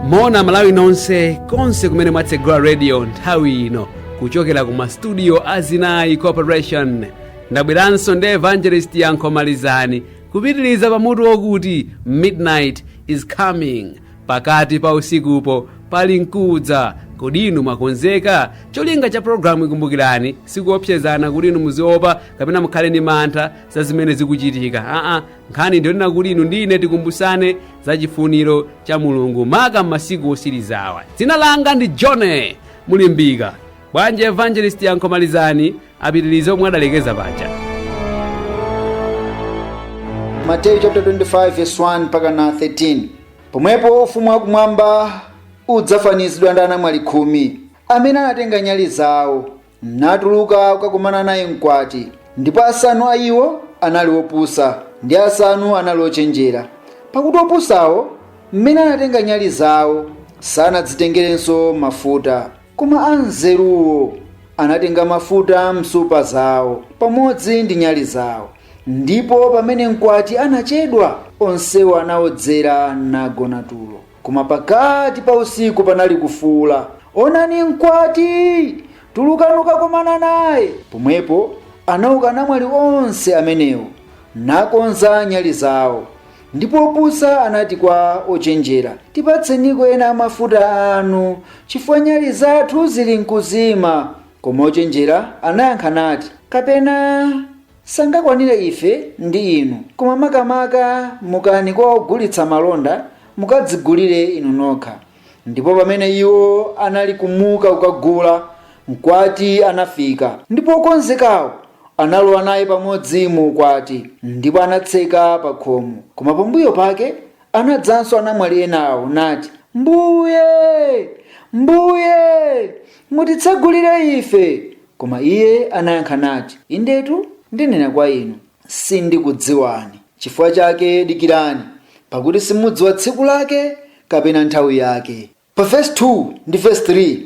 moni malawi nonse konse kumene mwatsegula radio nthawi ino kuchokera ku mastudio a zinayi corporation ndabweranso ndi evangelist yankho malizani kupitiriza pa mutu wokuti midnight is coming Pakati pa usikupo pali nkudza. Kodi inu mwakonzeka? Cholinga cha programuyi kumbukirani sikuopsezana kuti inu muziopa kapena mukhale ndi mantha za zimene zikuchitika. Aa, nkhani ndiyonena kuti inu ndi ine tikumbusane za chifuniro cha Mulungu maka m'masiku otsirizawa. Dzina langa ndi Johnny Mulimbika. Bwanji Evangelist Yankho Malizani apitirize pomwe adalekeza paja. Mateyu chapter 25 verse 1 mpaka na 13 pomwepo ufumu wakumwamba udzafanizidwa ndi anamwali khumi amene anatenga nyali zawo natuluka kukakumana naye mkwati ndipo asanu a iwo anali opusa ndi asanu anali ochenjera pakuti opusawo mmene anatenga nyali zawo sanadzitengerenso mafuta Koma anzeruwo anatenga mafuta m'nsupa zawo pamodzi ndi nyali zawo, ndipo pamene mkwati anachedwa, onsewo anaodzera nagona tulo. Koma pakati pa usiku panali kufuula, Onani mkwati! Tulukani kukakomana naye. Pomwepo anauka anamwali onse amenewo, nakonza nyali zawo. Ndipo opusa anati kwa ochenjera, Tipatseniko ena a mafuta anu, chifukwa nyali zathu zilinkuzima. Koma ochenjera anayankha nati, Kapena sangakwanire ife ndi inu, koma makamaka mukani kwa ogulitsa malonda, mukadzigulire inu nokha. Ndipo pamene iwo anali kumuka kukagula, mkwati anafika, ndipo okonzekawo analowa naye pamodzi mu ukwati, ndipo anatseka pakhomo. Koma pambuyo pake anadzanso anamwali enawo, nati, Mbuye, Mbuye, mutitsegulire ife! Koma iye anayankha nati, Indetu ndinena kwa inu, sindikudziwani. Chifukwa chake dikirani, pakuti simudziwa tsiku lake kapena nthawi yake. Pa vesi 2 ndi vesi 3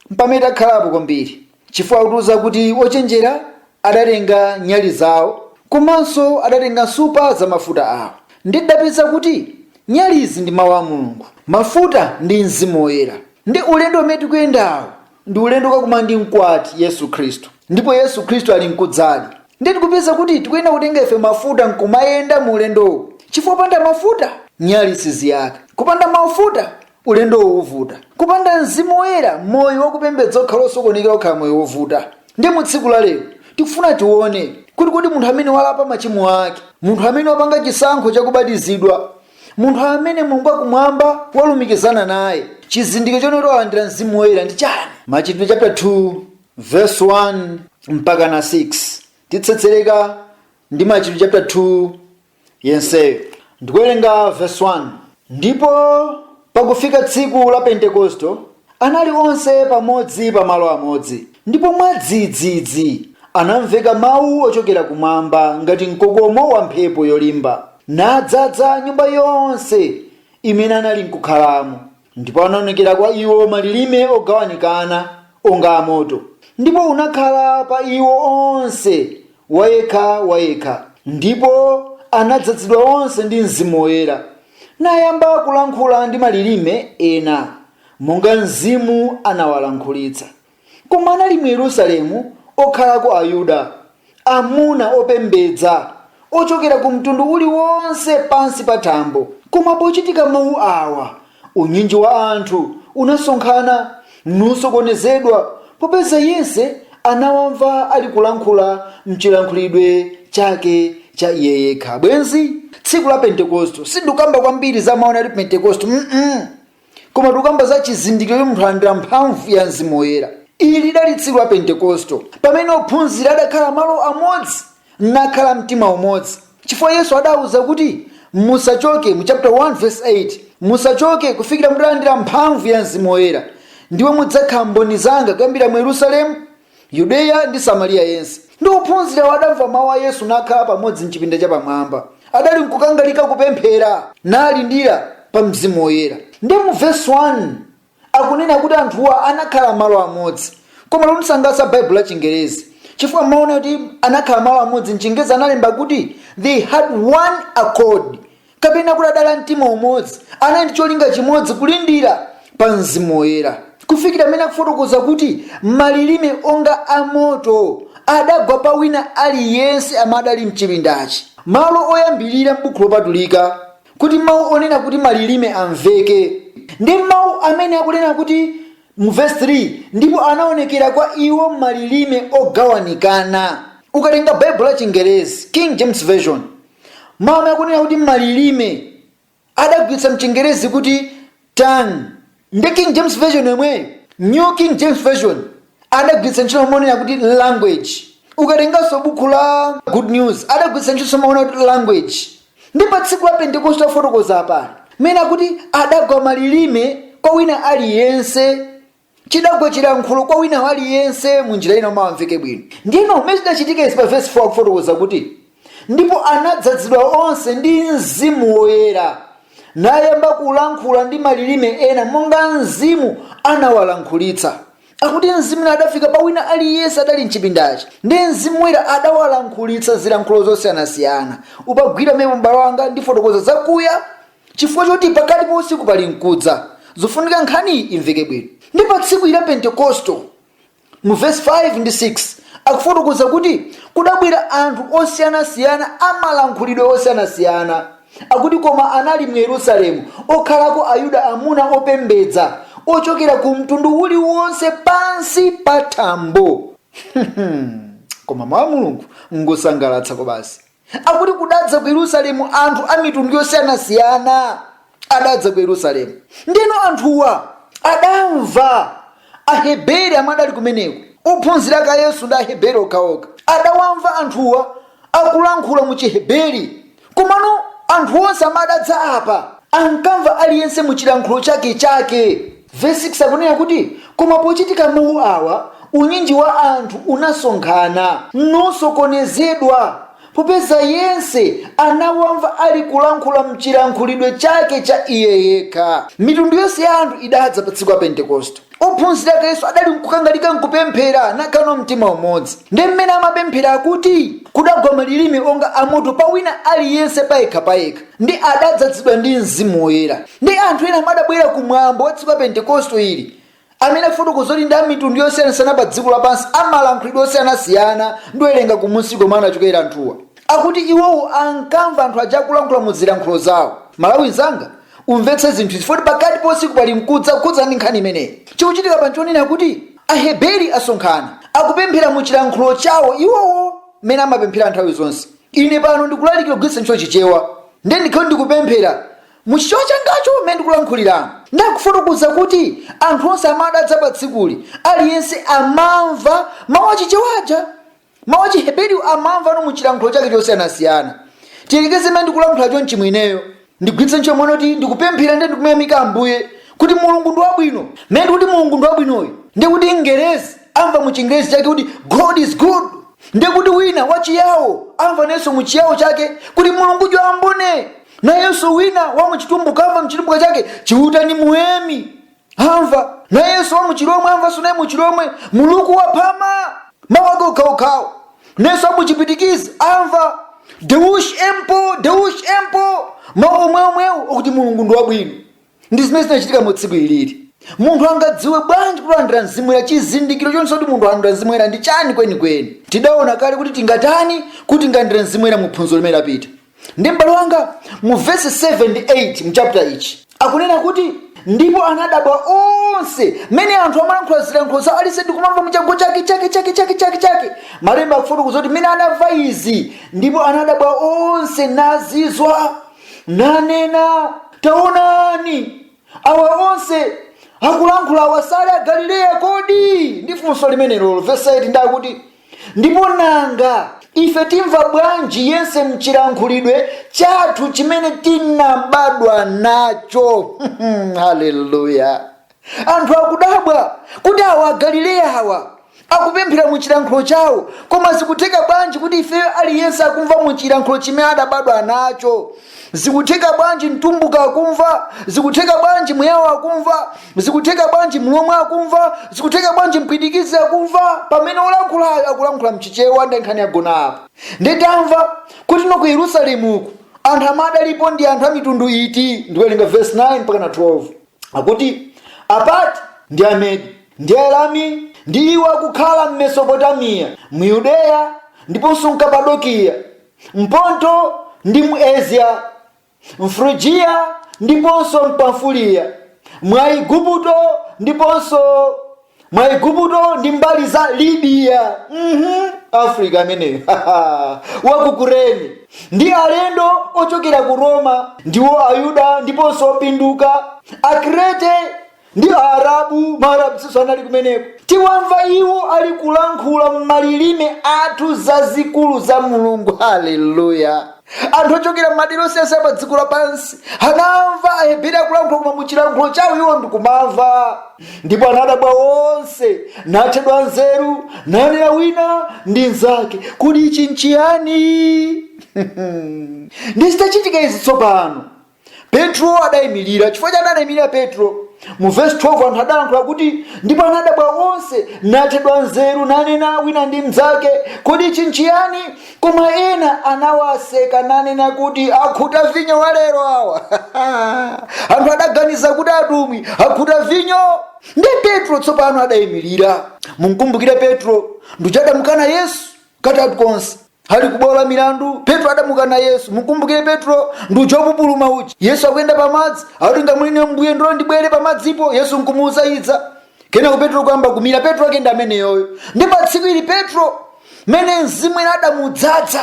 mpamene takhalapo kwambiri, chifukwa akutiuza kuti ochenjera adatenga nyali zawo komanso adatenga nsupa za mafuta awo. Ndiye tidapeza kuti nyalizi ndi Mawu a Mulungu, mafuta ndi Mzimu Woyera. Ndiye ulendo umene tikuyendawu ndi ulendo kakumana ndi mkwati yesu khristu ndipo yesu khristu ali mkudzadi ndiye tikupeza kuti tikuyenera kutenga ife mafuta nkumayenda mu ulendowu chifukwa kupanda mafuta nyali siziyaka kupanda mafuta ulendowu uvuta kupanda mzimu woyera moyo wakupembedza ukhala osokonekera ukhala moyo wovuta ndiye mu tsiku la lero tikufuna tione kuti kodi munthu amene walapa machimo ake munthu amene wapanga chisankho chakubatizidwa Munthu amene Mulungu wa Kumwamba walumikizana naye, chizindikiro chonena kuti walandira Mzimu Woyera ndi chani? Machitidwe chapter 2 verse 1 mpakana 6 titsetsereka ndi Machitidwe chapter 2 yenseyo ndikuwerenga verse 1 ndipo pakufika tsiku la Pentekosto Anali onse pamodzi pa malo amodzi, ndipo mwadzidzidzi anamveka mau ochokera kumwamba ngati mkokomo wa mphepo yolimba, nadzadza nyumba yonse imene analinkukhalamo. Ndipo anaonekera kwa iwo malilime ogawanikana onga a moto, ndipo unakhala pa iwo onse wayekha wayekha, ndipo anadzadzidwa onse ndi Mzimu Woyera, nayamba kulankhula ndi malilime ena. monga Mzimu anawalankhulitsa. Koma anali mu Yerusalemu okhalako Ayuda, amuna opembedza, ochokera ku mtundu uliwonse pansi pa thambo. Koma pochitika mawu awa, unyinji wa anthu unasonkhana, nusokonezedwa, popeza yense anawamva ali kulankhula m'chilankhulidwe chake cha iye yekha. Bwenzi tsiku la Pentekosto, sindikamba kwambiri za mawu onena kuti Pentekosto, mm koma tikukamba za chizindikiro choti munthu alandira mphamvu ya mzimu woyera ili lidali tsiku la pentekosto pamene ophunzira adakhala malo amodzi nakhala mtima umodzi chifukwa yesu adawuza kuti musachoke mu chapter 1 verse 8 musachoke kufikira mutalandira mphamvu ya mzimu woyera ndipo mudzakhala mboni zanga kuyambira mu yerusalemu Yudeya ndi Samariya yense. Ndiye ophunzirawo adamva mau a Yesu, nakhala pamodzi m'chipinda chapamwamba. Adalinkukangalika kupemphera, nalindira pa Mzimu Woyera. Ndiye mu vesi 1 akunena kuti anthuwa anakhala malo amodzi. Koma londisangalatsa Baibulo la Chingerezi chifukwa mmau onena kuti anakhala malo amodzi m'Chingezi analemba kuti they had one accord. kapena kuti adali a mtima umodzi, anali ndi cholinga chimodzi kulindira pa Mzimu Woyera, kufikira mmene akufotokoza kuti malilime onga a moto adagwa pa wina aliyense amene adali mchipindachi. Malo oyambirira m'Buku Lopatulika kuti mau onena kuti malilime amveke ndi mmau amene akunena kuti mu vesi 3 ndipo anaonekera kwa iwo malilime ogawanikana. Ukatenga Baibulo la Chingerezi, King James Version, Mawu amene akunena kuti malilime adagwiritsa mchingerezi kuti tongue ndi King James Version yomweyo. New King James Version adagwiritsa ntchito mawu onena kuti language. Ukatenganso bukhu la Good News adagwiritsa ntchitonso mawu onena kuti language. Ndi pa tsiku la Pentekoste akufotokoza apali, mmene akuti adagwa malilime kwa wina aliyense. chidagwa chilankhulo kwa wina waliyense mu njira ina mawuwa amveke bwino ndiyeno mmene chidachitika izi pa vesi 4 akufotokoza kuti ndipo anadzadzidwa onse ndi mzimu woyera nayamba kulankhula ndi malilime ena monga mzimu anawalankhulitsa akuti mzimu uja adafika pa wina aliyense adali mchipindachi ndi mzimu woyera adawalankhulitsa zilankhulo zosiyanasiyana upagwire pamenepo mbalo anga ndifotokoza zakuya Chifukwa choti pakati pa usiku pali mkudza, zofunika nkhaniyi imveke bwino. Ndi pa tsiku ili la Pentekosto. Mu vesi 5 ndi 6 akufotokoza kuti kudabwera anthu osiyana siyana a malankhulidwe osiyana siyana. Akuti koma anali mu Yerusalemu okhalako Ayuda amuna opembedza, ochokera ku mtundu uliwonse pansi pa thambo. Koma mawu a Mulungu ngosangalatsa kwabasi. Akuti kudadza ku Yerusalemu anthu a mitundu yosiyanasiyana adadza ku Yerusalemu. Ndiyeno anthuwa adamva Aheberi amene adali kumeneko, ophunzira ake a Yesu ndi Aheberi okhaokha. Adawamva anthuwa akulankhula mu Chiheberi. Komano anthu onse amene adadza apa ankamva aliyense mu chilankhulo chakechake. Vesi 6 akunena kuti, Koma pochitika mau awa, unyinji wa anthu unasonkhana, nusokonezedwa, popeza yense anawamva alikulankhula m'chilankhulidwe chake cha iye yekha. Mitundu yonse ya anthu idadza pa tsiku la Pentekoste. Ophunzira ake a Yesu adali nkukangalika nkupemphera, nakhala ndi mtima umodzi. Ndiye m'mene amapemphera akuti, Kudagwa malilime onga amoto pa wina aliyense payekhapayekha. ndi adadzadzidwa ndi Mzimu Woyera. Ndi anthu ena omwe adabwera ku mwambo wa tsiku la Pentekosto ili, amene afotokoza kuti ndi a mitundu yosiyanasiyana pa dziko lapansi, a malankhulidwe osiyanasiyana, ndiwerenga kumunsi komwe anachokera anthuwa, akuti iwowo ankamva anthu aja akulankhula mu zilankhulo zawo. Mmalawi mnzanga, umvetse zinthu izi, foti pakati pa usiku pali mkudza, kukhudzana ndi nkhani imeneyi. Chikuchitika apa nchonena kuti Aheberi asonkhana, akupemphera mu chilankhulo chawo iwowo, mmene amapemphera nthawi zonse. Ine pano ndikulalikira kugwiritsa ntchito Chichewa, ndiye ndikhale ndikupemphera mu Chichewa changacho mmene ndikulankhuliramu. Ndiye akufotokoza kuti anthu onse amene adadza pa tsikuli, aliyense amamva mawu a Chichewa aja. Mawu a Chiheberiwo amamvano mu chilankhulo chake chosiyanasiyana. Tiyerekeze mmene ndikulankhula chonchimu ineyo, ndigwiritse ntchito mwina kuti ndikupemphera ndiye ndikumuyamika ambuye kuti mulungu ndi wabwino mmene ndikuti mulungu ndi wabwinoyo ndi kuti mngerezi amva mu chingerezi chake kuti god is good ndi kuti wina wachiyawo amva nayenso mu chiyawo chake kuti mulungu jwambone nayenso wina wa muchitumbuka amva mchitumbuka chake chiuta ni muweme Amva nayenso wa muchilomwe amvanso naye muchilomwe muluku waphama mawu ake okhaokhawo nayenso wa muchipwitikizi amva deush empo deush empo mawu omweomwewo okuti mulungu ndi wabwino ndi zimene zinachitika mu tsiku ilili munthu angadziwe bwanji kuti walandira mzimu oyera chizindikiro choonetsa kuti munthu alandira mzimu oyera ndi chani kwenikweni tidaona kale kuti tingatani kuti tilandire mzimu oyera mu phunziro limene lapita ndi m'bale wanga mu vesi 7 ndi 8 mchapita ichi akunena kuti ndipo anadabwa onse mmene anthu amalankhula zilankhulo za aliyense ndi kumamva muchake chake chake malemba akufotokoza kuti mmene anamva izi ndipo anadabwa onse nazizwa nanena taonani awa onse akulankhula awa sali agalileya kodi ndiye funso limenelo vesi 8 ndiye akuti Ndipo nanga ife timva bwanji yense mchilankhulidwe chathu chimene tinabadwa nacho? Haleluya! Anthu akudabwa kuti awa Agalileya awa akupemphera mu chilankhulo chawo, koma zikutheka bwanji kuti ifeyo aliyense akumva mu chilankhulo chimene adabadwa nacho? zikutheka bwanji mtumbuka akumva zikutheka bwanji muyawo akumva zikutheka bwanji mlomwe akumva zikutheka bwanji mpwitikizi akumva pamene olankhulayo akulankhula mchichewa ndiye nkhani yagona apo ndiye tamva kuti no ku yerusalemu uku anthu amene adalipo ndi anthu a mitundu iti ndikuwerenga verse 9 mpaka na 12 akuti apati ndi amedi ndi aelami ndi iwo akukhala m'mesopotamiya mu yudeya ndiponso mkapadokiya M'Ponto ndi mu Asia, m'Frugiya ndiponso m'Pamfuliya, mu Aigupto ndiponso mu Aigupto ndi mbali za Libiya, uhum, Afrika ameneyo wa ku Kurene, ndi alendo ochokera ku Roma, ndiwo Ayuda ndiponso opinduka, Akrete ndi Aarabu, Maarabsnso anali kumeneko. Tiwamva iwo ali kulankhula m'malilime athu zazikulu za Mulungu. Haleluya! Anthu ochokera m'madera osiyanasiyana pa dziko lapansi anamva Aheberi akulankhula koma mu chilankhulo chawo iwo ndikumamva, ndipo anadabwa onse, nathedwa nzeru, nanena wina ndi mnzake, kodi ichi nchiyani? ndiye zitachitika izi tsopano Petro adaimirira. Chifukwa chani adaimirira Petro? Mu vesi 12 anthu adalankhula kuti, ndipo anadabwa onse, nathedwa nzeru, nanena wina ndi mnzake, kodi ichi nchiyani? Koma ena anawaseka nanena kuti, akhuta vinyo walero awa. anthu adaganiza kuti atumwi akhuta vinyo. Ndi Petro tsopano adaimirira. Mumkumbukire Petro, ndi uja adamukana Yesu katatu konse. Ali ku bwalo la milandu, Petro adamukana Yesu. Mukumbukire Petro ndi uja wopupuluma uja. Yesu akuyenda pa madzi, akuti ngati muli inu Mbuye ndiloleni ndibwere pa madzipo. Yesu nkumuuza idza. Kenako Petro kuyamba kumira. Petro ake ndi ameneyoyo. Nde pa tsiku ili Petro mmene mzimu woyera udamudzadza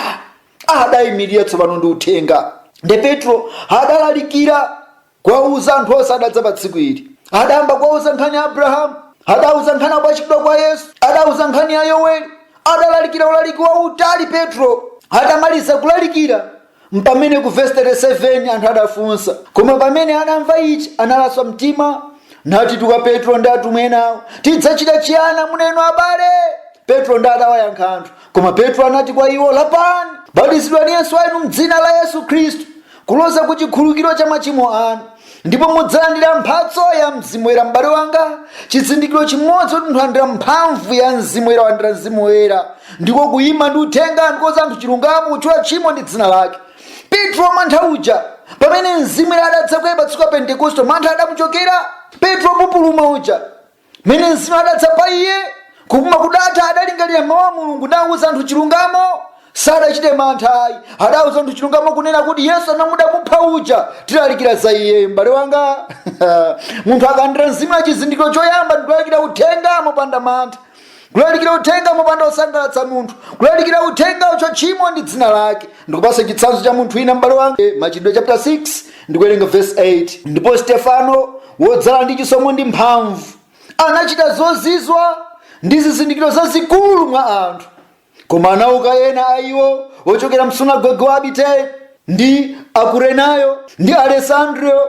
adayimirira tsopano ndi uthenga. Nde Petro adalalikira kuwauza anthu onse adadza pa tsiku ili adayamba kuwauza nkhani ya abrahamu adauza nkhani ya kupachikidwa kwa yesu adauza nkhani ya yoweli adalalikira ulaliki wautali petro atamaliza kulalikira mpamene ku vesi 37 anthu adafunsa koma pamene anamva ichi analaswa mtima natitu kwa petro ndi atumwi enawo tidzachita chiyani amuna inu abale petro nde adawayankha anthu koma petro anati kwa iwo lapani batizidwani yense wa inu mdzina la yesu khristu kuloza ku chikhululukiro cha machimo anu ndipo mudzalandira mphatso ya mzimu woyera m'bale wanga chizindikiro chimodzi kuti munthu walandira mphamvu ya mzimu woyera walandira mzimu woyera ndiko kuyima ndi uthenga ndi kuuza anthu chilungamo kutchula tchimo ndi dzina lake petro wamantha uja pamene mzimu woyera adadza kwa iye pa tsiku la pentekoste mantha adamuchokera petro wopupuluma uja mmene mzimu adadza pa iye kupupuluma kudatha adalingalira mawu a mulungu nawuza anthu chilungamo sadachite mantha ayi adawuza anthu chilungamo kunena kuti yesu amene mudamupha uja tilalikira za iye m'bale wanga munthu akalandira mzimu woyera chizindikiro choyamba ndikulalikira uthenga mopanda mantha kulalikira uthenga mopanda kusangalatsa munthu kulalikira uthenga kutchula tchimo ndi dzina lake ndikupatsa chitsanzo cha munthu wina m'bale wanga Eh, machitidwe chapter 6 ndikuwerenga verse 8 ndipo stefano wodzala ndi chisomo ndi mphamvu anachita zozizwa ndi zizindikiro zazikulu mwa anthu koma anauka ena a iwo ochokera msunagoge wa abiteri ndi akurenayo ndi alesandriyo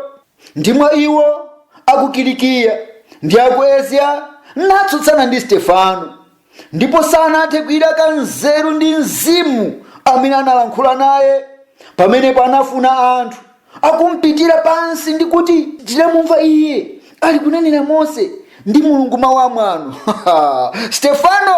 ndi mwa iwo a ku Kilikiya ndi a ku Asia natsutsana ndi Stefano, ndipo sanathe kuilaka nzeru ndi mzimu amene analankhula naye. Pamenepo anafuna anthu akumpitira pansi ndi kuti, tinamumva iye ali kunenera Mose ndi Mulungu mawu amwano. Stefano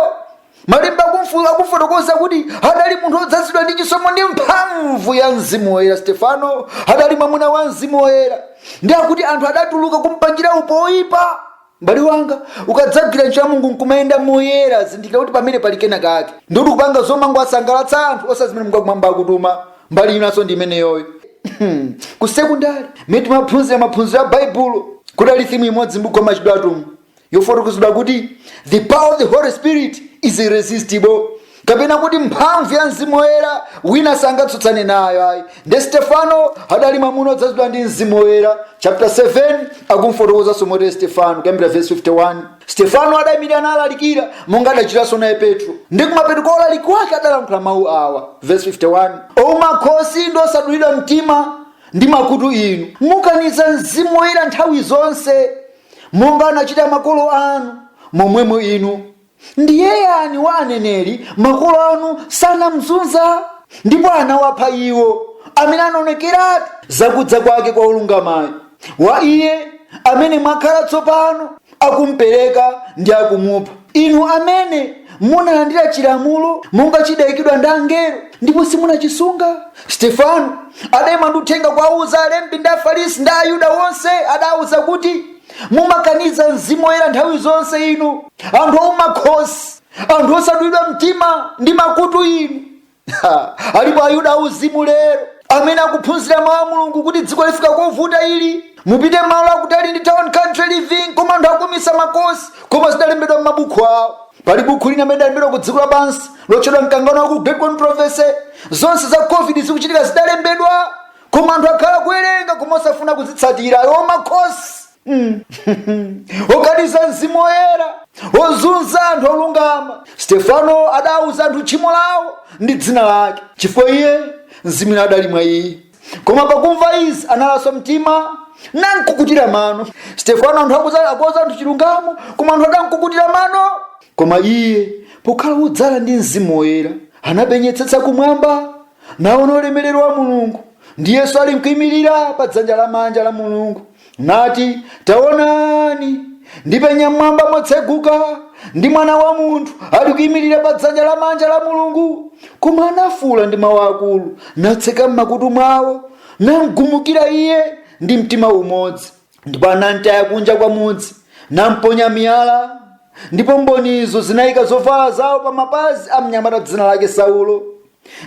malemba akumfotokoza kuti adali munthu odzazidwa ndi chisomo ndi mphamvu ya mzimu woyera stefano adali mwamuna wa mzimu woyera ndi akuti anthu adatuluka kumpangira upo oyipa mbale wanga ukadzagwira ntchito ya mulungu nkumayenda moyera zindikira kuti pamene pali kena kake ndikuti kupanga zomangowasangalatsa anthu osati zimene mulungu wakumwamba akutuma mbali inanso ndi imeneyoyo ku sekundari mene timaphunzira maphunziro a baibulo kudali thimu imodzi mbuku wa machitidwe atumwi yofotokozedwa kuti the power of the holy spirit is irresistible kapena kuti mphamvu ya mzimu woyera wina sangatsutsane nayo ayi nde stefano adali mwamuna odzazidwa ndi mzimu woyera chapter 7 akumfotokozanso motere stefano kuyambira verse 51 stefano adayimirira nalalikira monga adachitanso naye petro ndi kumapeto kwa ulaliki wake adalankhula mawu awa verse 51 ouma khosi ndi osadulidwa mtima ndi makutu inu mukaniza mzimu woyera nthawi zonse monga anachita makolo anu, momwemo inu. Ndiye yani wa aneneri makolo anu sanamzunza? Ndipo anawapha iwo amene anaonekeratu zakudza kwake kwa wolungamayo, wa iye amene mwakhala tsopano akumpereka ndi akumupha. Inu amene munalandira chilamulo monga chidaikidwa ndi angelo, ndipo simunachisunga. Stefano adaima ndi uthenga kuwauza alembi ndi Afarisi ndi Ayuda onse, adawauza kuti, Mumakaniza Mzimu Woyera nthawi zonse inu, anthu ouma khosi, anthu osadulidwa mtima ndi makutu inu. Ha, alipo ayuda auzimu lero amene akuphunzira mawu a mulungu kuti dziko lifika kovuta ili mupite malo akutali ndi town country living koma anthu akuumitsa makosi koma zidalembedwa m'mabuku awo pali buku lina amene lidalembedwa ku dziko lapansi lotchedwa mkangano waukulu great controversy zonse za covid zikuchitika zidalembedwa koma anthu akhala kuwerenga koma osafuna kuzitsatira ayo makosi okaniza mzimu woyera ozunza anthu olungama stefano adauza anthu tchimo lawo ndi dzina lake chifukwa iye mzimu woyera adali mwa iye koma pakumva izi analaswa mtima nankukutira mano stefano anthu akuza- akuwauza anthu chilungamo koma anthu adankukutira mano koma iye pokhala wodzala ndi mzimu woyera anapenyetsetsa kumwamba naona ulemerero wa mulungu ndi yesu ali nkuimirira pa dzanja lamanja la mulungu nati, Taonani, ndipenya m'mwamba motseguka, ndi mwana wa munthu ali kuyimirira pa dzanja lamanja la mulungu koma anafuula ndi mawu akulu natseka m'makutu mwawo namgumukira iye ndi mtima umodzi ndipo anamtaya kunja kwa mudzi namponya miyala ndipo mbonizo zinayika zovala zawo pa mapazi a mnyamata dzina lake saulo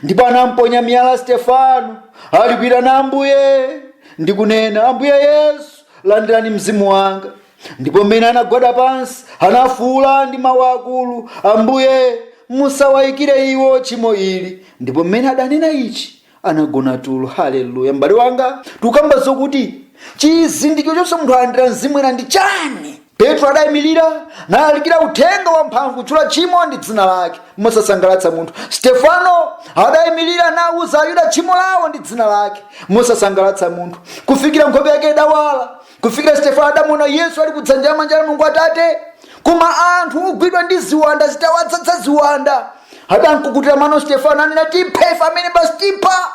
ndipo anamponya miyala stefano ali kuitana ambuye ndi kunena ambuye yesu landirani mzimu wanga ndipo mmene anagwada pansi anafuula ndi mawu akulu ambuye musawayikire iwo tchimo ili ndipo mmene adanena ichi anagona tulo haleluya m'bale wanga tikukamba zokuti chizindikiro chonse munthu alandira mzimu oyera ndi chani Petro adaimirira nalalikira uthenga wamphamvu kutchula tchimo ndi dzina lake mosasangalatsa munthu. Stefano adaimirira nauza Ayuda tchimo lawo ndi dzina lake mosasangalatsa munthu, kufikira nkhope yake idawala, kufikira Stefano adamuona Yesu ali kudzanja lamanja la Mulungu Atate. Koma anthu ogwidwa ndi ziwanda zitawadzadza ziwanda, adamkukutira mano Stefano nanena, tiphe ife amene basi tipha.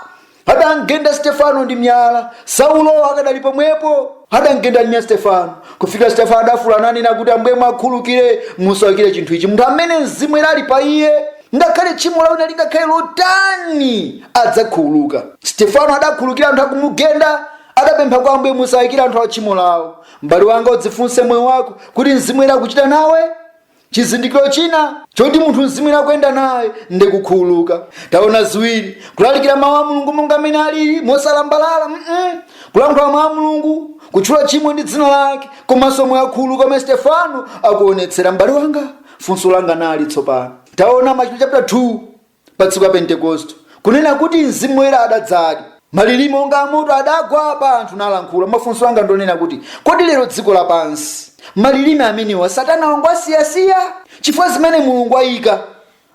Adamgenda Stefano ndi miyala, Saulo akadali pomwepo. Adamgenda ndi miyala Stefano, kufikira Stefano adafuula nanena kuti, Ambuye mwakhululukire, musawaikire chinthu ichi munthu amene Mzimu Woyera ali pa iye. Ngakhale tchimo la wina lingakhale lotani, adzakhululuka. Stefano adakhululukira anthu akumugenda, adapempha kwa Ambuye, musaikire anthu awo tchimo lawo. M'bale wanga, udzifunse moyo wako kuti Mzimu Woyera akuchita nawe. Chizindikiro china choti munthu Mzimu Woyera akuyenda naye ndi kukhululuka. Taona ziwiri, kulalikira mawu a Mulungu monga mmene alili mosalambalala, mm -mm. kulankhula mawu a Mulungu, kutchula tchimo ndi dzina lake, komanso moyo wakhululuka umene Stefano akuonetsera. M'bale wanga, funso langa nali tsopano, taona Machitidwe chaputala 2 pa tsiku la Pentekoste, kunena kuti Mzimu Woyera adadzadi, malilime onga amoto adagwa pa anthu nalankhula. Mafunso anga ndonena kuti, kodi lero dziko lapansi malilime amenewa satana wangowasiyasiya? Chifukwa zimene Mulungu ayika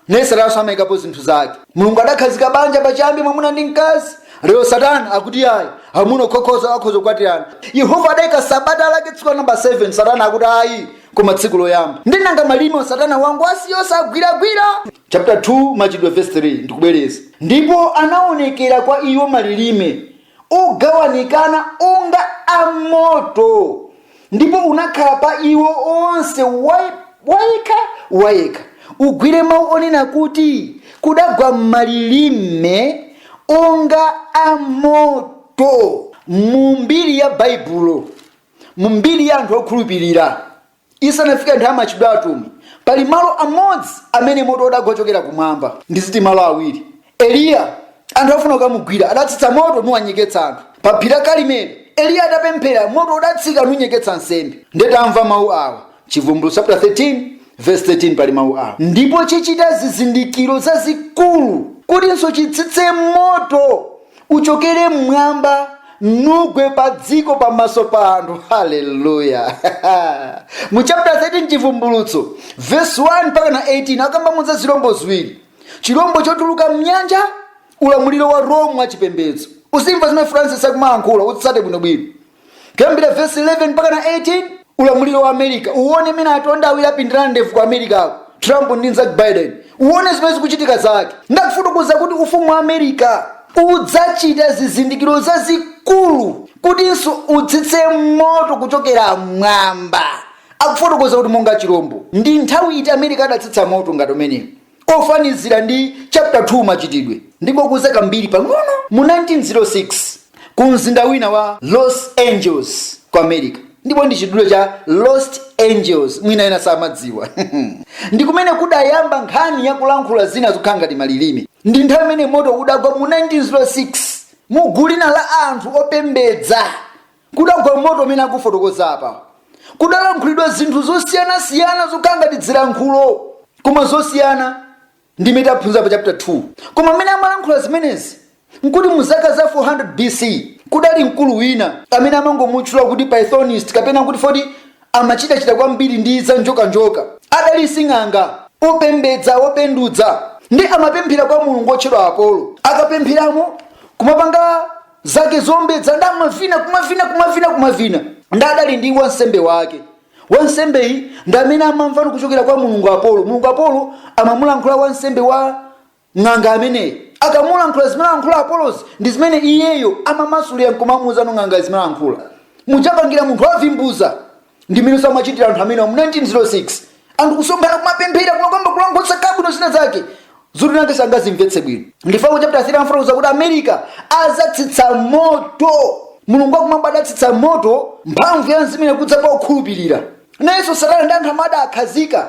naye satananso amayikapo zinthu zake. Mulungu adakhazika banja pachiyambi mwamuna ndi mkazi, lero satana akuti ayi, amuna okhaokha akhoza kukwatirana. Yehova adayika sabata lake tsiku la namba 7, satana akuti ayi, koma tsiku loyamba. Nde nanga malilime satana wangowasiya osagwiragwira? chaputala 2, Machitidwe, vesi 3, ndikubwereza. Ndipo anawonekera kwa iwo malirime ogawanikana onga a moto, ndipo unakhala pa iwo onse wayekha wayekha, ugwire mawu onena kuti kudagwa malirime onga a moto. Mu mbiri ya Baibulo, mu mbiri ya anthu okhulupirira, Isanafike nthawi ya Machitidwe a Atumwi, pali malo amodzi amene moto udagwa kuchokera kumwamba. Ndiziti malo awiri. Eliya, anthu afuna kukamugwira, adatsitsa moto nuwanyeketsa anthu. Pa phiri la Kalimeri, Eliya atapemphera, moto udatsika nunyeketsa nsembe. Ndiye tamvani mau awa. Chibvumbulutso chaputala 13 vesi 13 pali mau awa, Ndipo chichita zizindikiro zazikulu, kutinso chitsitse moto. Uchokere mmwamba nugwe padziko pamaso pa anthu haleluya mu chapter 13 chivumbulutso verse 1 mpaka na 18 akambamo za zilombo ziwiri chilombo chotuluka mnyanja ulamuliro wa rome wa chipembedzo uzimva zimene francis akumayankhula utsate bwinobwino kuyambira vesi 11 mpaka na 18 ulamuliro wa america uwone mmene atonda awiri apindana ndevu ku america ako trump ndi nzake biden uwone zimene zikuchitika zake ndakufotokoza kuti ufumu wa america udzachita zizindikiro zazikulu kutinso utsitse moto kuchokera mmwamba akufotokoza kuti monga chirombo ndi nthawi iti america adatsitsa moto ngati umenewu Ofanizira ndi chapter 2 Machitidwe, ndingokuuza kambiri pang'ono. Mu 1906 ku mzinda wina wa Los Angeles ku America, ndipo ndi chidule cha Lost Angels, mwina ena samadziwa ndi kumene kudayamba nkhani ya kulankhula zina zokhala ngati malilime. Ndi nthawi imene moto udagwa mu 1906 mu gulu lina la anthu opembedza Kudagwa moto umene akufotokoza apa. Kudalankhulidwa zinthu zosiyanasiyana zokhala ngati dzilankhulo koma zosiyana ndi zimene taphunzira pa chaputa 2. Koma amene amalankhula zimenezi nkuti mu zaka za 400 BC kudali mkulu wina amene amangomutchula kuti Pythonist kapena kuti foti amachitachita kwambiri ndi za njokanjoka. Adali sing'anga, wombedza, wopenduza ndi amapemphera kwa mulungu wotchedwa Apolo. Akapempheramo kumapanga. zake zombedza ndi amavina kumavina kumavina kumavina ndi adali ndi wansembe wake wansembeyi ndi amene amamvano kuchokera kwa mulungu apolo mulungu apolo amamulankhula wansembe wa ng'anga ameneyi akamulankhula zimene alankhula apolozi ndi zimene iyeyo amamasulira nkumamuuzano ng'anga zimene alankhula mmene amapangira munthu wavimbuza ndi mmene amachitira anthu amenewa mu 1906 anthu kusonkhana kumapemphera kumakamba kulankhula bwino zina zake zoti nawenso sangazimvetse bwino ndifango chapter 13 akufotokoza kuti america adzatsitsa moto mulungu wakumwamba adatsitsa moto mphamvu ya mzimu yakudza pa okhulupirira nayenso satana ndi anthu amene adawakhazika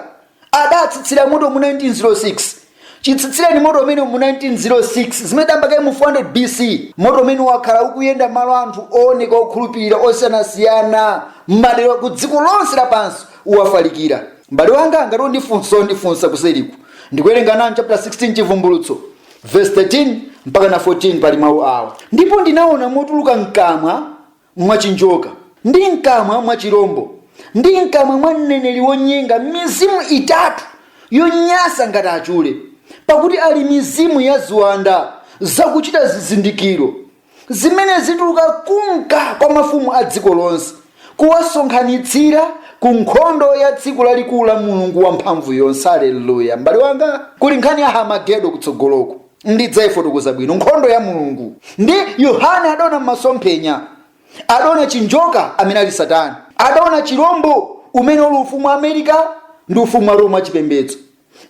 adatsitsira moto mu 1906 chitsitsireni moto umenewu mu 1906 zimene zidayamba kale mu 400 bc moto umene wakhala ukuyenda malo anthu ooneka okhulupirira osiyanasiyana m'madera ku dziko lonse lapansi wafalikira mbale wanga ngati undifunsa undifunsa kuseriku ndikuwerenga nanu chapter 16 chivumbulutso verse 13 mpaka na 14 pali mawu awa ndipo ndinaona motuluka mkamwa mwa chinjoka, ndi mkamwa mwa chirombo, ndi mkamwa mwa mneneri wonyenga, mizimu itatu yonyansa ngati achule, pakuti ali mizimu ya ziwanda zakuchita zizindikiro, zimene zituluka kunka kwa mafumu a dziko lonse, kuwasonkhanitsira ku nkhondo ya tsiku lalikulu la Mulungu Wamphamvuyonse. Aleluya! M'bale wanga, kuli nkhani ya Harmagedo kutsogoloku. ndidzaifotokoza bwino nkhondo ya mulungu ndi yohane adaona m'masomphenya adaona chinjoka amene ali satana adaona chilombo umene uli ufumu wa america ndi ufumu wa roma wachipembedzo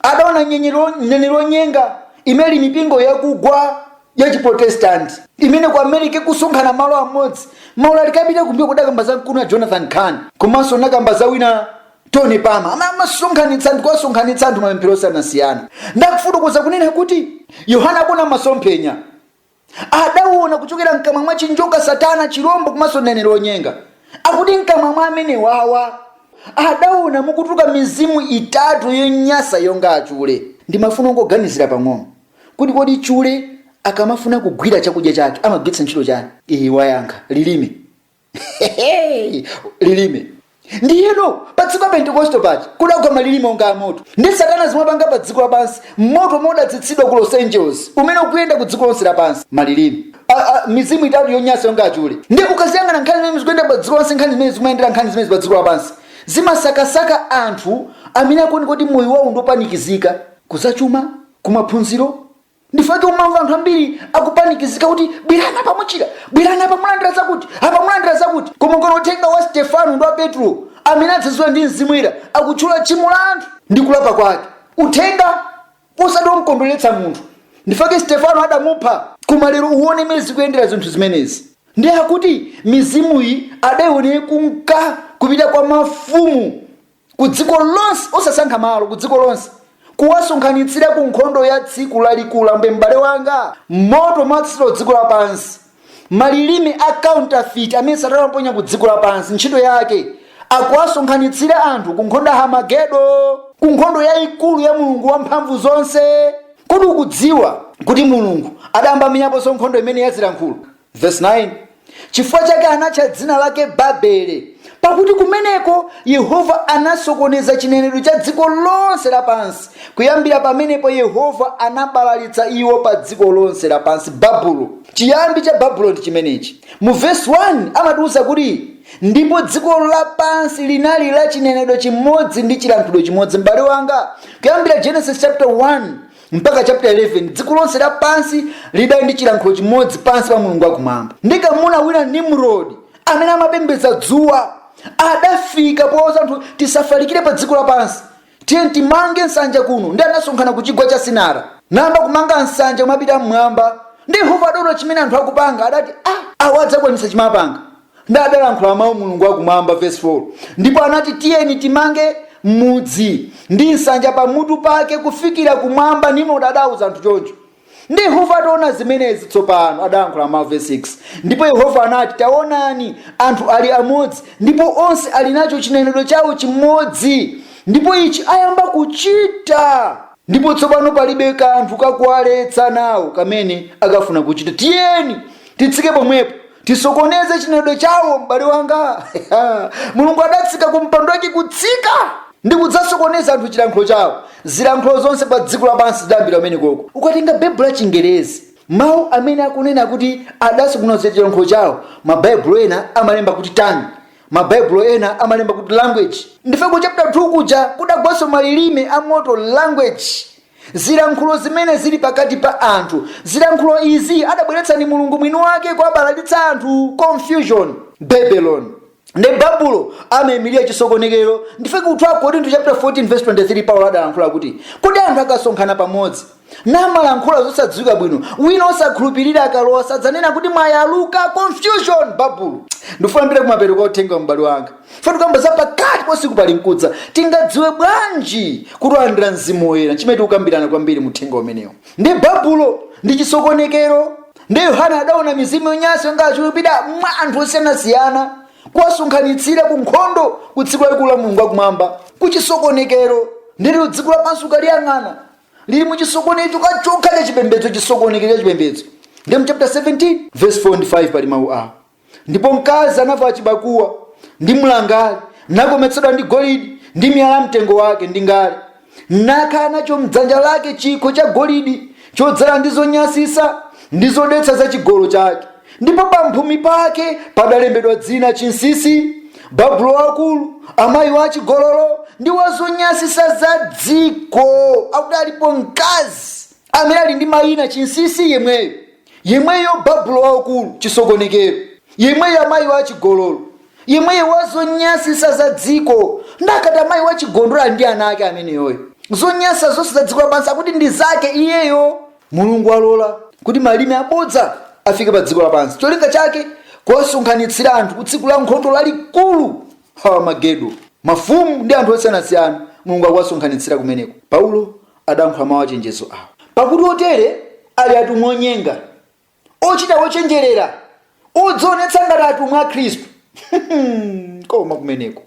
adaona nyenyero- mneneri wonyenga imene ili mipingo yakugwa ya chiprotestanti imene ku america ikusonkhana malo amodzi maulaliki apita kumbuyo ndidakamba za mkulu wina jonathan khan komanso nakamba za wina Tony Palmer ama- amasonkhanitsa ndi kuwasonkhanitsa anthu mapemphero osiyanasiyana ndakufotokoza kunena kuti Yohana akuona masomphenya adawona kuchokera mkamwa mwa chinjoka Satana chirombo komanso mneneri wonyenga akuti mkamwa mwa amenewawa adawona mukutuluka mizimu itatu yonyansa yonga achule. Ndimafuna ungoganizira pang'ono kuti kodi chule akamafuna kugwira chakudya chake amagwiritsa ntchito chani? wayankha, lilime. Hehehe, lilime ndiyeno pa tsiku la pentekoste paja kudagwa malilime onga amoto ndi satana zimene wapanga pa dziko lapansi moto omwe udatsitsidwa ku los angeles umene ukuyenda ku dziko lonse lapansi malilime mizimu itatu yonyansa yonga achule ndi ukaziyang'ana nkhani zimene zikuyenda pa dziko lonse nkhani zimene zimayendera nkhani zimene pa dziko lapansi zimasakasaka anthu amene akuoneka kuti moyo wawo ndiopanikizika kuzachuma kumaphunziro ndifake umamva anthu ambiri akupanikizika kuti bwerani apa muchira bwerani apa mulandira zakuti apa mulandira zakuti koma ukaona uthenga wa stefano ndi wa petro amene adzazidwa ndi mzimu woyera akutchula tchimo la anthu ndi kulapa kwake uthenga osati womkondweretsa munthu ndifake stefano adamupha koma lero uone mmene zikuyendera zinthu zimenezi ndi akuti mizimuyi adaione kumka kupita kwa mafumu ku dziko lonse, osasankha malo, ku dziko lonse, kuwasonkhanitsira ku nkhondo ya tsiku lalikulu, m'bale wanga, moto wotsikira dziko lapansi, malilime a counterfeit amene satana waponya ku dziko lapansi, ntchito yake akuwasonkhanitsira anthu ku nkhondo ya Hamagedo, ku nkhondo yayikulu ya Mulungu wa mphamvu zonse. Kodi ukudziwa kuti Mulungu adayamba amenyaponso nkhondo imene yazilankhulo? Verse 9 chifukwa chake anatcha dzina lake babele pakuti kumeneko yehova anasokoneza chinenedwe cha dziko lonse lapansi kuyambira pamenepo yehova anabalalitsa iwo pa dziko lonse lapansi babulo chiyambi cha babulo n'chimenechi mu vesi 1 amatiwuza kuti ndipo dziko lapansi linali la chinenedwe chimodzi ndi chilankhulidwe chimodzi m'bale wanga kuyambira genesis chapter 1 mpaka chapter 11 dziko lonse lapansi lidali ndi chilankhulo chimodzi pansi pa mulungu wakumwamba ndi kamuna wina nimrodi amene amapembedza dzuwa adafika pouza anthu tisafalikire pa dziko lapansi tiyeni timange nsanja kuno ndi anasonkhana ku chigwa cha sinara nayamba kumanga nsanja kumapita mmwamba ndi yehova adaona chimene anthu akupanga adati ah, awa adzakwanitsa chimapanga Ndi adalankhula mau Mulungu wa Kumwamba, vesi 4, Ndipo anati, Tiyeni timange mudzi, ndi nsanja pamutu pake kufikira kumwamba, Nimrod adauza anthu choncho. Ndi Yehova ataona zimenezi tsopano, adalankhula mau, vesi 6, Ndipo Yehova anati, Taonani, anthu ali amodzi, ndipo onse ali nacho chinenedwe chawo chimodzi, ndipo ichi ayamba kuchita. Ndipo tsopano palibe kanthu kakuwaletsa nawo kamene akafuna kuchita. Tiyeni titsike pomwepo, tisokoneze chinenedwe chawo m'bale wanga mulungu adatsika ku mpando wake kutsika ndi kudzasokoneza anthu chilankhulo chawo zilankhulo zonse pa dziko lapansi zidayambira kumeneko ukatenga baibulo la chingerezi mawu amene akunena kuti adasokoneza chilankhulo chawo mabaibulo ena amalemba kuti tongue mabaibulo ena amalemba kuti language ndiye ku chapter 2 kuja kudagwanso malilime a moto language zilankhulo zimene zili pakati pa anthu zilankhulo izi adabweretsa ndi mulungu mwini wake kuwabalalitsa anthu confusion babylon ndi babulo amaimilira chisokonekero ndiye ku 2 korinto chapter 14 verse 23 paulo adalankhula kuti kodi anthu akasonkhana pamodzi namalankhula zosadziwika bwino wina osakhulupirira akalowa sadzanena kuti mwayaluka confusion babulo ndifuna ndipite kumapeto kwa uthengawu m'bale wanga pofuna kukamba za pakati pa usiku pali mkudza tingadziwe bwanji kuti talandira mzimu woyera chimene tikukambirana kwambiri muthenga umenewo ndi babulo ndi chisokonekero ndi yohane adaona mizimu yonyansa yonga achule ikupita mwa anthu osiyanasiyana kuwasonkhanitsira ku nkhondo ku tsiku lalikulu la mulungu wakumwamba ku chisokonekero ndiye ilo dziko lapansi ukaliyang'ana lili mu chisokonezo chokhachokha cha chipembedzo chisokonekero cha chipembedzo ndi mu chapter 17 verse 4 ndi 5 pali mawu awo Ndipo mkazi anavala chibakuwa ndi mlangali, nakometsedwa ndi golidi ndi miyala ya mtengo wake ndi ngale, nakhala nacho mdzanja lake chikho cha golidi chodzala ndi zonyansitsa ndi zodetsa za chigololo chake. Ndipo pamphumi pake padalembedwa dzina chinsinsi, Babulo waukulu, amayi wa achigololo ndi wa zonyansitsa za dziko. Akuti alipo mkazi amene ali ndi mayina chinsinsi yemweyo. Yemweyo Babulo Waukulu, chisokonekero, yemweyo amayi wa achigololo, yemweyo wa zonyansitsa za dziko. Nde akati amayi wa achigololo nde ali ndi ana ake ameneyoyo, zonyansa zonse za dziko lapansi akuti ndi zake iyeyo. Mulungu walola kuti malime abodza afike pa dziko lapansi, cholinga chake kuwasonkhanitsira anthu ku tsiku la nkhondo lalikulu, Harmagedo. Mafumu ndi anthu osiyanasiyana Mulungu akuwasonkhanitsira kumeneko. Paulo adalankhula mau achenjezo awa. Pakuti otere ali atumwi onyenga, ochita ochenjerera, odzionetsa ngati atumwi a Khristu. Koma kumeneko!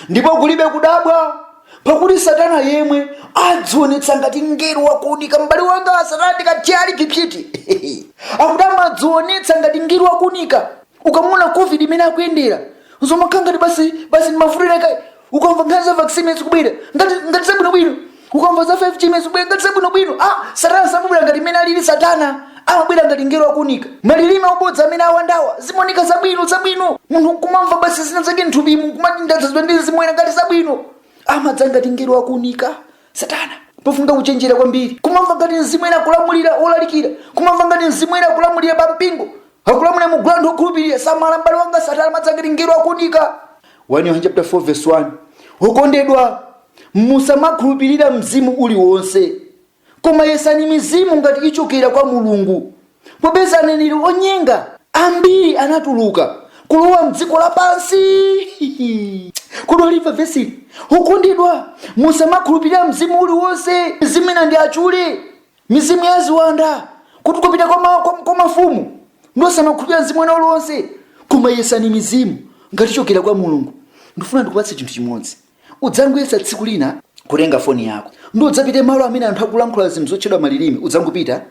Ndipo kulibe kudabwa, pakuti Satana yemwe adzionetsa ngati mngelo wa kuunika. M'bale wanga, Satana ndi kathyali psiti! Akuti amadzionetsa ngati mngelo wa kuunika. Ukamuona covid imene akuyendera, nzomakhala ngati basi ndi mavuto ena kaya. ukamva nkhani za vaccine imene zikubwera ngati zabwinobwino ukamva za 5g imene zikubwera ngati zabwinobwino ah satana samabwera ngati mmene alili satana amabwera ngati ngelo wakuunika malilime obodza amene awandawa zimaoneka zabwino zabwino munthu nkumamva basi zina zake nthupimu nkumati ndadzazidwa ndi mzimu oyera ngati zabwino amadza ngati ngelo wakuunika satana pofunika kuchenjera kwambiri kumamva ngati mzimu oyera akulamulira olalikira kumamva ngati mzimu oyera akulamulira pa mpingo akulamulira mu gulu la anthu okhulupirira samala m'bale wanga satana amadza ngati ngelo wakuunika 1 yohane chapter 4 verse 1 okondedwa musamakhulupirira mzimu uliwonse koma yesani mizimu ngati ichokera kwa mulungu popeza aneneri onyenga ambiri anatuluka kulowa mdziko lapansi kodi walimva vesili okondedwa musamakhulupirira mzimu uliwonse mizimu ina ndi achule Mizimu ya ziwanda kuti kupita kwa, ma, kwa, kwa mafumu ndiye osamakhulupirira mzimu wina uliwonse koma yesani mizimu ngati ichokera kwa mulungu ndifuna ndikupatse chinthu chimodzi udzangoyesa tsiku lina kutenga foni yako ndiye udzapite malo amene anthu akulankhula zinthu zotchedwa malilime udzangopita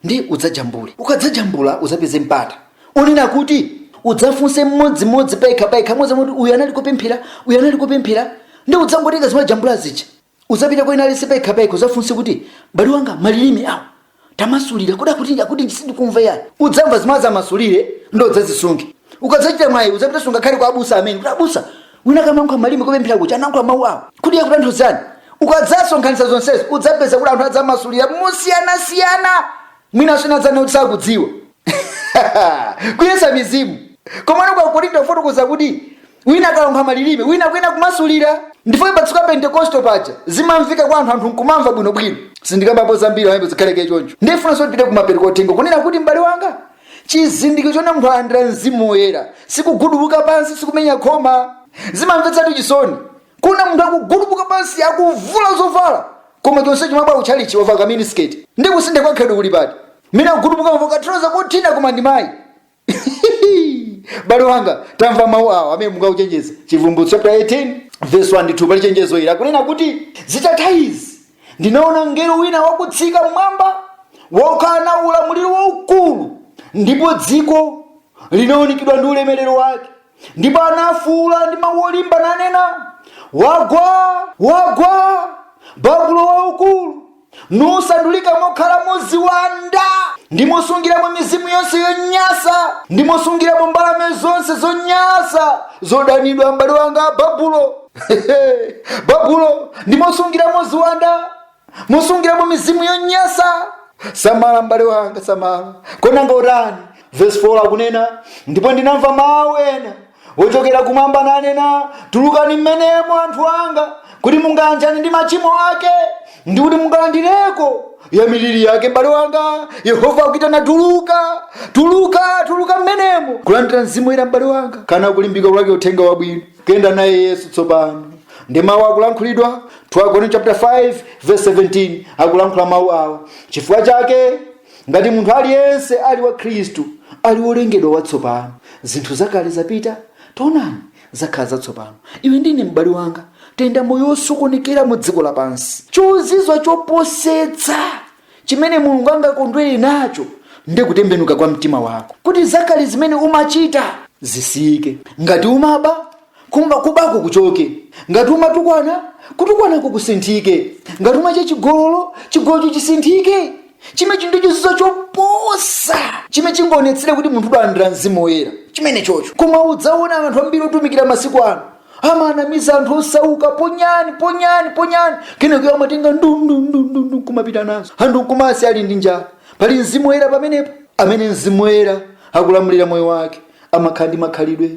ndiye udzajambule ukadzajambula udzapeze mpata onena kuti udzafunse mmodzimmodzi payekha payekha modzamoti uyu anali kupemphera uyu anali kupemphera ndiye udzangotenga zimene wajambula zija uzapita kwa wina aliyense payekha payekha uzafunse kuti m'bale wanga malilime awo tamasulira kuda kuti akuti chani sindikumva ayi udzamva zimene azamasulire ndiye udzazisunge ukadzachita mwayi udzapitenso ngakhale kwa abusa amene kuti abusa wina akamalankhula malilime kupemphera kuti analankhula mawu awo kuti akutanthauzanji ukadzasonkhanitsa zonsezo udzapeza kuti anthu adzamasulira mosiyanasiyana mwina ena adzanena kuti sakudziwa kuyesa mizimu komano kwa Akorinto anafotokoza kuti Wina akalankhula malilime, wina akuyenera kumasulira. Ndifukwa pa tsiku la Pentekosto paja zimamveka kwa anthu, anthu nkumamva bwino bwino. Sindikambapo zambiri pamenepo zikhale kaye choncho. Ndifunanso tipite kumapeto kwa uthengawu kunena kuti m'bale wanga, chizindikiro chonena kuti munthu alandira Mzimu Woyera sikugudubuka pansi, sikumenya khoma. Zimamvetsatu chisoni kuona munthu akugudubuka pansi akuvula zovala koma chonsecho amabwera kutchalichi wavala ka miniskirt. Ndiye kusintha kwa khalidwe kuli pati? Wina kugudubuka wavala ka trouser kothina koma ndi mayi. m'bale wanga tamva mawu awa amene mulungu akuchenjeza chivumbulutso chapter 18 verse 1 ndi 2 pali chenjezo ili akunena kuti zitatha izi ndinaona mngelo wina wakutsika mmwamba wokhala na ulamuliro waukulu ndipo dziko linaunikidwa ndi ulemerero wake ndipo anafuula ndi mawu olimba nanena wagwa wagwa babulo waukulu nusandulika mokhalamo ziwanda, ndi mosungiramo mizimu yonse yonyansa, ndi mosungiramo mbalame zonse zonyansa zodanidwa, m'bale wanga Babulo. Babulo ndi mosungiramo ziwanda, mosungiramo mizimu yonyansa. Samala m'bale wanga, samala. Konanga utani? Verse 4 akunena, ndipo ndinamva mawu ena wochokera kumwamba nanena, Tulukani mmenemo anthu anga, kuti mungayanjane ndi machimo ake, ndi kuti mungalandireko ya miliri yake. M'bale wanga, Yehova akuitana, tuluka, tuluka, tuluka mmenemo, kulandira mzimu woyera, m'bale wanga, kana kulimbika kulalika uthenga wabwino, kuyenda naye Yesu tsopano ndi mawu akulankhulidwa 2 Akorinto chapter 5 verse 17 akulankhula mawu awa chifukwa chake ngati munthu aliyense ali mwa khristu ali wolengedwa watsopano zinthu zakale zapita taonani zakhala zatsopano iwe ndi ine m'bale wanga tayenda moyo wosokonekera mu dziko lapansi chozizwa choposetsa chimene mulungu angakondwere nacho ndi kutembenuka kwa mtima wako kuti zakale zimene umachita zisiyike ngati umaba Kuba kubako kuchoke. Ngati umatukwana, kutukwanako kusinthike. Ngati umachita chigololo, chigolocho chisinthike. Chimenechi ndi chozizwa choposa chimene chingaonetsere kuti munthu udalandira mzimu woyera chimenechocho. Koma udzaona anthu ambiri otumikira masiku ano amanamiza anthu osauka ponyani ponyani ponyani kenako iwo amatenga ndundundundu nkumapita nazo anthu nkumasiya ali ndi njala pali mzimu woyera pamenepo amene mzimu woyera akulamulira moyo wake amakhala ndi makhalidwe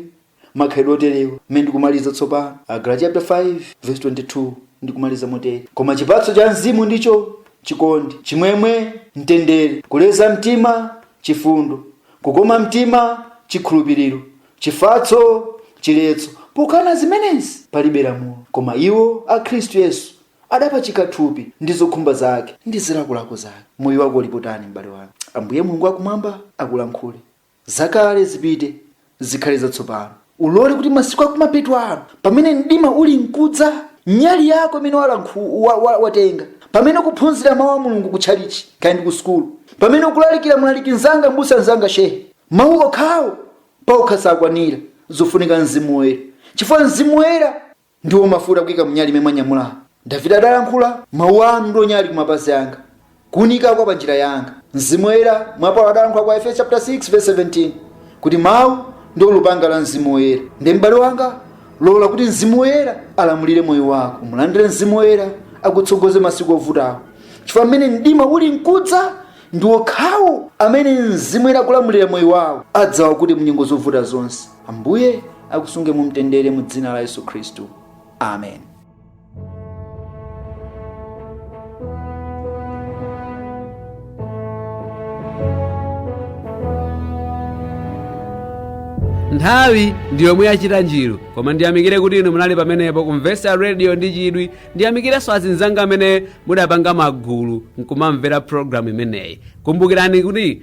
makhalidwe oterewa. Mmene ndikumaliza tsopano. Agalatiya chapter 5 verse 22 Ndikumaliza motere, koma chipatso cha Mzimu ndicho, chikondi, chimwemwe, mtendere, kuleza mtima, chifundo, kukoma mtima, chikhulupiriro, chifatso, chiletso, pokana zimenezi palibe lamulo. Koma iwo a Khristu Yesu adapachika thupi ndi zokhumba zake ndi zilakolako zake. Moyo wako uli pati, m'bale wanga? Ambuye Mulungu Wakumwamba akulankhule. Zakale zipite, zikhale zatsopano. Ulole kuti masiku akumapeto ano, pamene mdima uli nkudza, nyali yako imene walankhu, wa, wa, watenga, pamene ukuphunzira mawu a Mulungu ku tchalitchi, kaya ndi ku sukulu, pamene ukulalikira mlaliki mzanga, mbusa mzanga, shehe, mawu okhawo paokha sakwanira, zofunika Mzimu Woyera, chifukwa Mzimu Woyera Ndiwo mafuta kuika mu nyali imene mwanyamula. Davide adalankhula, Mawu anu ndiwo nyali ku mapazi anga, kuunika kwa pa njira yanga. Mzimu Woyera, mwa Paulo adalankhula ku Aefeso chapter 6 verse 17 kuti Mawu ndiwo lupanga la Mzimu Woyera. Ndiye m'bale wanga, lola kuti Mzimu Woyera alamulire moyo wako. Mulandire Mzimu Woyera akutsogoze masiku ovutawa, chifukwa pamene mdima uli nkudza, ndi okhawo amene Mzimu Woyera akulamulira moyo wawo adzawa kuti mu nyengo zovuta zonse. Ambuye akusunge mu mtendere mu dzina la Yesu Khristu. Amen. nthawi ndi yomwe yachita njiru koma ndiyamikire kuti inu munali pamenepo kumvetsera radio ndi chidwi ndiyamikirenso azinzanga amene mudapanga magulu nkumamvera programu imeneyi kumbukirani kuti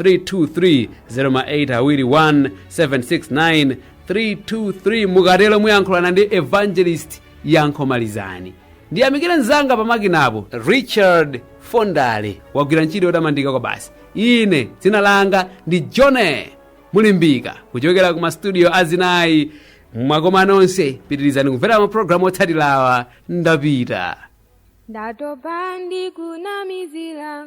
32308 awiri 1 769 323 mukatero muyankhulana ndi evangelist yankho malizani ndiyamikire mzanga pamakinapo richard fondale wagwira ntchito yotamandika kwabasi ine dzina langa ndi jone mulimbika kuchokera ku mastudio azinayi mwakoma nonse pitirizani kumvera mapulogalamu otsatirawa ndapita ndatopa ndikunamizira